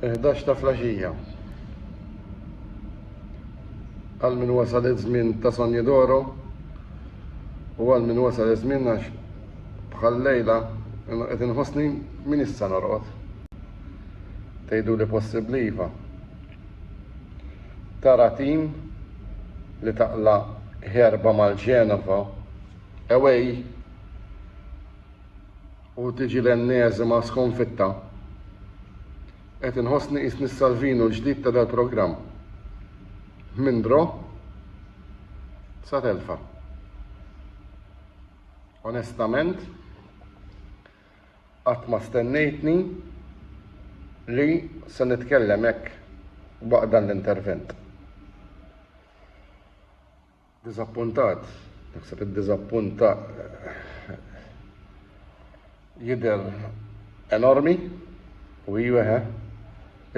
11 ta' flaxija. Għal min wasal iż-żmien ta' Sonja Doro u għal min wasal iż-żmien għax bħal lejla qed inħossni min issa norqod. Tgħidu li possibbli iva. Tara tim li taqla' herba mal-Genova away u tiġi l-enneżima skonfitta? Qed inħossni qisni s-Salvinu l-ġdid ta' dal-programm. Minn draw sa telfa. Onestament, Qatt ma stennejtni li se nitkellem hekk waqt dan l-intervent. Diżappuntat, naħseb id-diżappunt jidher enormi u iva he,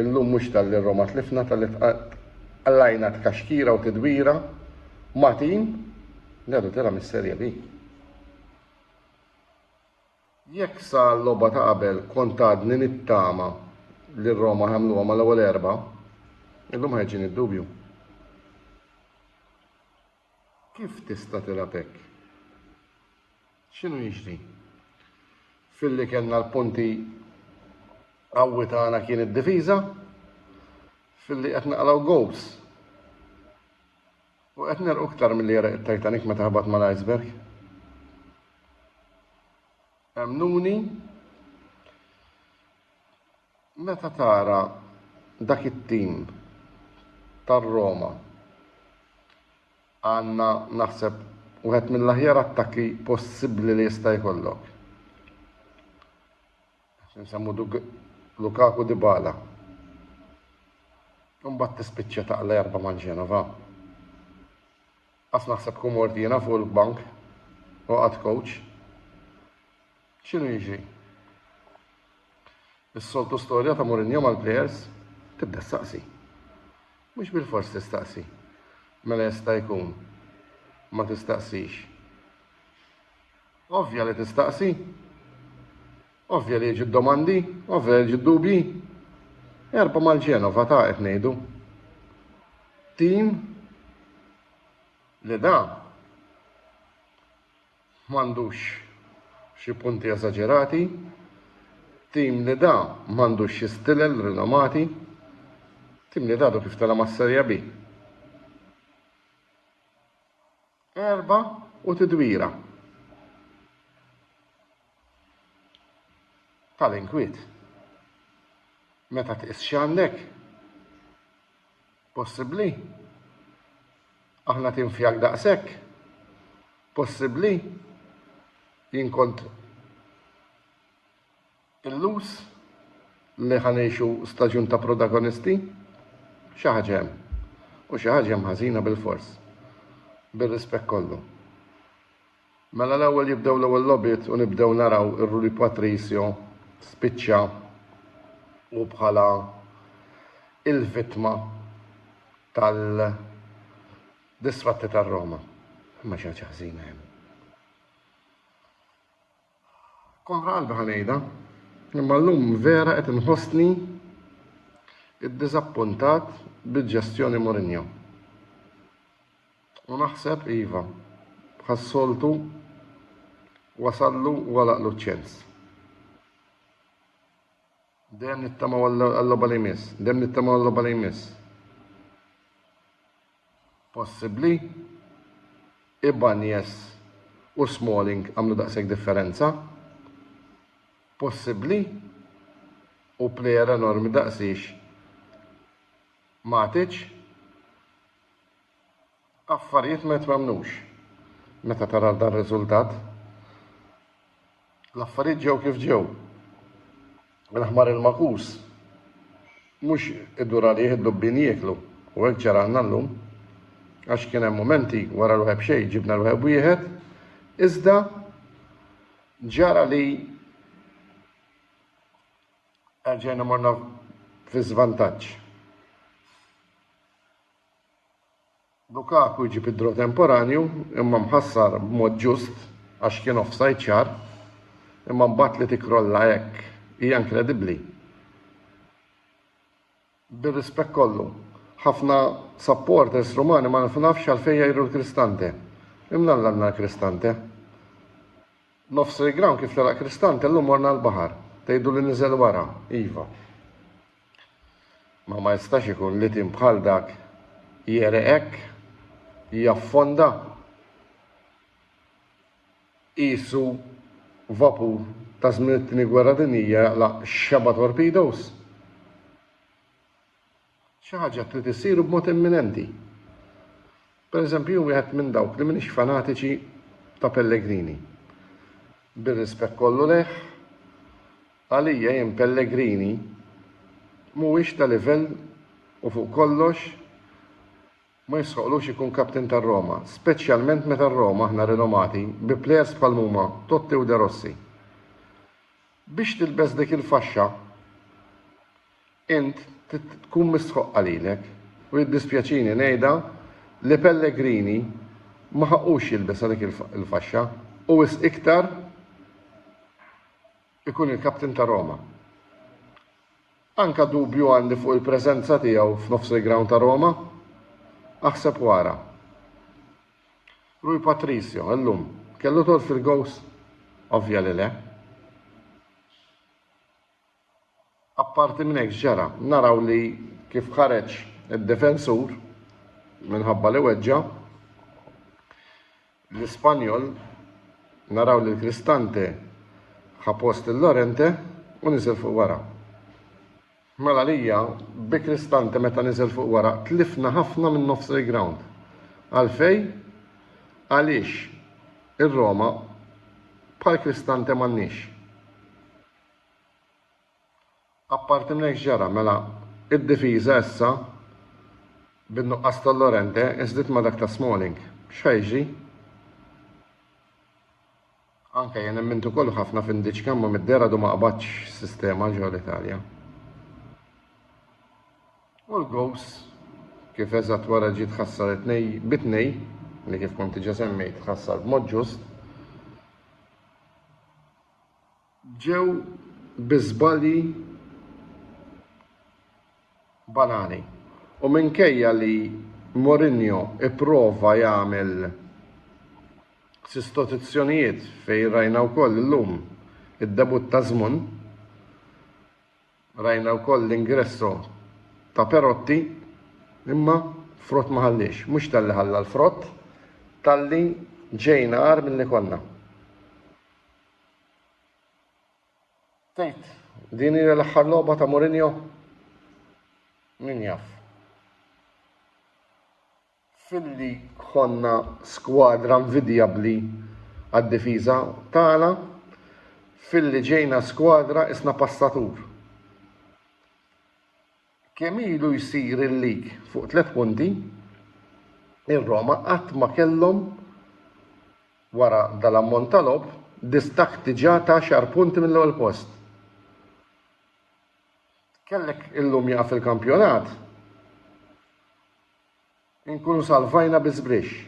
illum mhux talli Roma tlifna talli tqallajna tkaxkira u tidwira ma' tim li għadu tela' mis-Serje B. Jekk sa l-logħba ta' qabel kont għadni nittama li Roma ħajamluha mal-ewwel erbgħa, illum ħajġini d-dubju. Kif tista' tilgħab hekk? X'inhu jiġri? Filli kellna l-punti qawwi tagħna kien id-difiża, filli qed naqlaw goals U qed negħrqu iktar milli għereq it-Titanic meta ħabat mal-iceberg. Emmnuni, meta tara dak it-tim tar-Roma għandna naħseb wieħed mill-aħjar attakki possibbli li jista' jkollok. Xi nsemmu Lukaku Dybala. Imbagħad tispiċċa taqla erba' ma' Genova. Qas naħseb kun mort jiena fuq il-bank u qatt coach. X'inhu jiġri? Is-soltu storja ta' Mourinho mal-plejers tibda staqsi. Mhux bil-fors tistaqsi. Mela jista' jkun ma tistaqsix. Ovvja li tistaqsi. Ovvja li jiġu d-domandi, ovvja li jiġu d-dubji. Erba' mal-Ġenova ta' qed ngħidu. Tim li da m'għandux xi punti eżaġerati, tim li da m'għandux xi stilel rinomati, tim li dadu kif tela' mas-Serja B. Erba' u tidwira tal-inkwiet. Meta tqis x'għandek possibbli, aħna tim fihak daqshekk possibbli, jien kont Illuz li ħa ngħixu staġun ta' protagonisti? Xi ħaġa hemm. U xi ħaġa hemm ħażina bilfors. Bir-rispett kollu. Mela l-ewwel jibdew l-ewwel logħbiet u nibdew naraw ir-Rui Patricio spiċċa hu bħala il-vittma tal-disfatti tar-Roma. Imma xi ħaġa ħażina hemm. Kontra qalbi ħa ngħidha, imma llum vera qed inħossni iddiżappuntat bil-ġestjoni Mourinho. U naħseb iva, bħas-soltu wasallu u għalaqlu ċ-ċens. Dejjem nittamaw għal-logħba li jmiss. Dejjem nittamaw għal-logħba li jmiss. Possibbli. Ibanjes u Smalling għamlu daqshekk differenza. Possibbli. U plejer enormi daqsix Matic. Affarijiet ma jitwemmnux meta tara dar-riżultat. L-affarijiet ġew kif ġew. Il-ħmar il-magħkus mhux idur għalih id-dubbien jieklu u hekk ġaralna llum għax kien hemm mumenti wara l-waheb xejn ġibna l-waheb wieħed iżda ġara li erġajna morna fi żvantaġġ. Lukaku jġib id-draw temporanju imma mħassar b'mod ġust għax kien offside ċar imma mbagħad li tikkrolla hekk hija inkredibbli. Bir-rispett kollu, ħafna supporters Rumani ma nfnafx għalfejn jgħiru l-Cristante. Imnalla għandna l-Cristante. Nofs il-ground kif telaq Cristante llum morna l-baħar. Tgħidu li niżel wara, iva. Ma ma jistax ikun li tim bħal dak jegħreq hekk, jaffonda qisu vapur ta' żmien it-Tieni Gwerra Dinjija jaqlaq xebgħa torpedoes. Xi ħaġa trid issir u b'mod imminenti. Pereżempju jien wieħed minn dawk li m'iniex fanatiċi ta' Pellegrini. Bir-rispett kollu lejh, għalija jien Pellegrini mhuwiex ta' livell u fuq kollox ma jistħoqqlux ikun captain tar-Roma, speċjalment meta r-Roma aħna rinomati bi plejers bħal mhuma Totti u De Rossi. Biex tilbes dik il-faxxa, Int trid tkun mistħoqq għalilek, u jiddispjaċini ngħidha li Pellegrini ma ħaqqux jilbisha dik il-faxxa, u wisq iktar ikun il-captain ta' Roma. Anke dubju għandi fuq il-preżenza tiegħu f'nofs il-ground ta' Roma. Aħseb u ara. Rui Patricio, illum, kellu dħul fil-gows? Ovvja li le. Apparti minn hekk x'ġara? Naraw li kif ħareġ id-difensur minħabba li weġġa' l-Ispanjol naraw li l-Cristante ħa post lil Llorente u niżel fuq wara. Mela lija bi Cristante meta niżel fuq wara tlifna ħafna minn nofs il-ground. Għalfej? Għaliex ir-Roma bħal Cristante m'għandniex. Apparti minn hekk x'ġara? Mela, id-difiża issa bin-nuqqas ta' Llorente inżdiet ma' dak ta' Smalling. X'ħa jiġri? Anke jien emmint ukoll ħafna f'Indiċka imma mid-dehra għadu ma qabadx sistema ġo l-Italja. U l-gows kif eżatt wara ġiet ħassar it-tnej bi tnej li kif kont diġà semmejt ħassar b'mod ġust. Ġew bi żbalji banali u minkejja li Mourinho ipprova jagħmel sistotizzjonijiet fejn rajna wkoll illum id-debutt ta' Żmun, rajna wkoll l-ingresso ta' Perotti, imma frott ma ħalliex. Mhux talli ħalla l-frott, talli ġejna agħar milli konna. Tgħid din hija l-aħħar logħba ta' Mourinho? Min jaf. Filli konna skwadra nvidjabbli għad-difiża tagħna, filli ġejna skwadra isna passatur. Kemm ilu jsir il-league fuq tliet punti, ir-Roma qatt ma kellhom, wara dal-ammont ta' logħob, distakk diġà ta' għaxar punti mill-ewwel post. Kellek illum jieqaf il-kampjonat Inkunu salvajna bi żbrixx.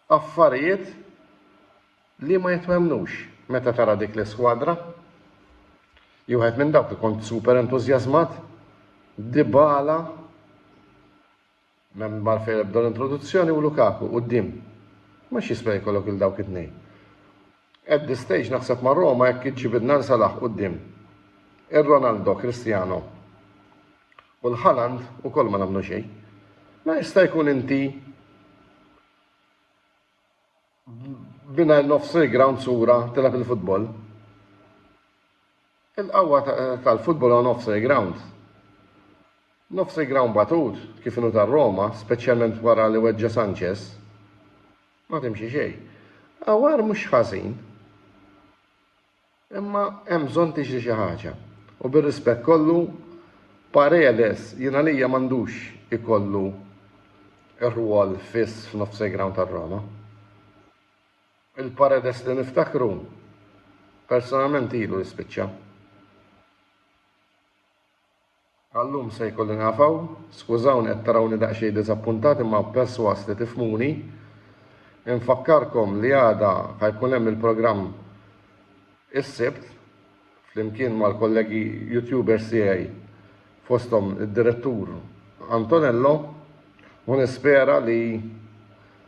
Affarijiet li ma jitwemmnux meta tara dik l-iskwadra. Jien wieħed minn dawk li kont super entużjażmat. Dybala, m'hemm għalfejn ebda l-introduzzjoni u Lukaku quddiem. Mhux jiswa jkollok il dawk it-tnejn. At this stage naħseb ma' Roma jekk iġġibidna l Salah quddiem. Ir-Ronaldo, Cristiano. U l-Haaland ukoll ma nagħmlu xejn. Ma jista' jkun inti binajr nofs il-ground sura tilab il-futbol. Il-qawwa tal-futbol għu nofs il-ground. Nofs il-ground batut, kif inu tar-Roma, speċjalment wara li weġġa Sanchez, ma timxi xej. Għawar mhux ħażin. Imma hemm bżonn tiġri xi ħaġa. U bir-rispett kollu, Paredes jien għalija m'għandux ikollu r-rwol fiss f'nofsejgrawn tar-Roma. Il-Paredes li niftakru, personalment ilu li spiċċa. Għal-lum se jkolli nieqaf hawn. Skużawni qed tarawni daqsxejn diżappuntat imma persważ li tifhmuni. Infakkarkom li għada ħa jkun hemm il-programm Is-Sibt flimkien mal-kollegi YouTubers tiegħi fosthom id-Direttur Antonello u nispera li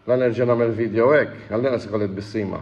la nerġa' nagħmel video hekk, għall-inqas ikolli tbissima.